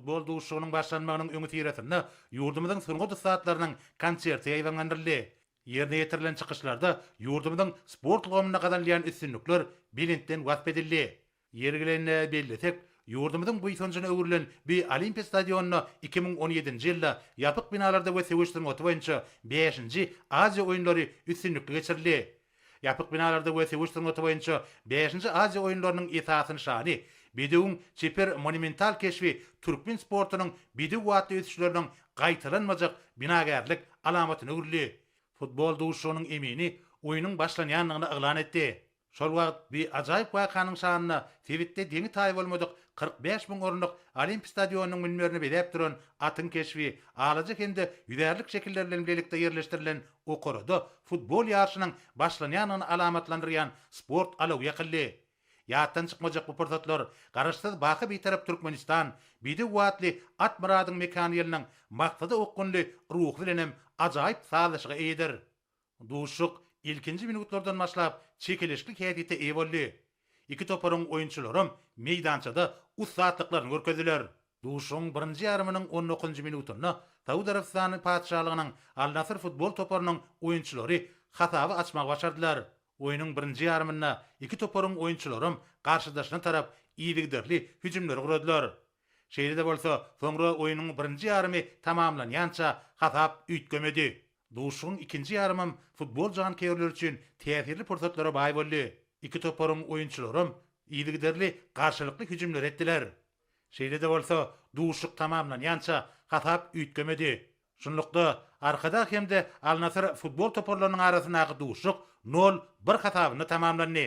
Bol duşuşygynyň başlanmagynyň öňüsyrasynda ýurdumyzyň sungat ussatlarynyň konserti ýaýbaňlandyryldy. Ýerine ýetirilen çykyşlarda ýurdumyzyň sport ulgamynda gazanylýan üstünlikler belentden wasp edildi. Ýeri gelende bellesek, ýurdumyzyň buýsanjyna öwrülen bu Olimpiýa stadionyna iki müň on ýedinji ýylda ýapyk binalarda we söweş sungaty boýunça bäşinji Aziýa oýunlary üstünlikli geçirildi. Ýapyk binalarda we söweş sungaty boýunça Bäşinji Aziýa oýunlarynyň esasy nyşany, bedewiň çeper monumental keşbi türkmen sportunyň bedew batly ösüşleriniň gaýtalanmajak binagärlik alamatyna öwrüldi. Futbol duşuşygynyň emini oýnuň başlanýandygyny yglan etdi. Şol wagt bu ajaýyp wakanyň şanyna sebitde deňi-taýy bolmadyk kyrk bäş müň orunlyk Olimp stadionynyň münberini bezäp duran atyň keşbi, alaja hem-de ýüzärlik şekilleri bilen bilelikde ýerleşdirilen Okarada futbol ýaryşynyň başlanýandygyny alamatlandyrýan sport alawy ýakyldy. Ýatdan çykmajak bu pursatlar Garaşsyz, baky Bitarap Türkmenistan, Bidew Watly at Myradyň mekany ýylynyň Maksada okgunly ruhy bilen hem ajaýyp sazlaşyga eýedir. Duşuşyk ilkinji minutlardan başlap çekeleşikli häsiýete eýe boldy. Iki toparyň oýunçylaram meýdançada ussatlyklaryny görkezdiler. Duşuşygyň birinji ýarymynyň on dokuzynjy minutynda Saud Arabystany Patyşalygynyň Al-Nasr futbol toparynyň oýunçylary hasaby açmagy başardylar. Oýnuň birinji ýarymynda iki toparyň oýunçylaram garşydaşyna tarap yzygiderli hüjümleri guradylar. Şeýle-de bolsa, soňra oýnuň birinji ýarymy tamamlanýança hasap üýtgemedi. Duşuşygyň ikinji ýarymam futbol janköýerleri üçin täsirli pursatlara baý boldy. Iki toparyň oýunçylaram yzygiderli garşylykly hüjümleri etdiler. Şeýle-de bolsa, duşuşyk tamamlanýança hasap üýtgemedi. Şunlukda, Arkadag hem-de Al-Nasyr futbol toparlarynyň arasyndaky duşuşyk nol, bir hasabynda tamamlandy.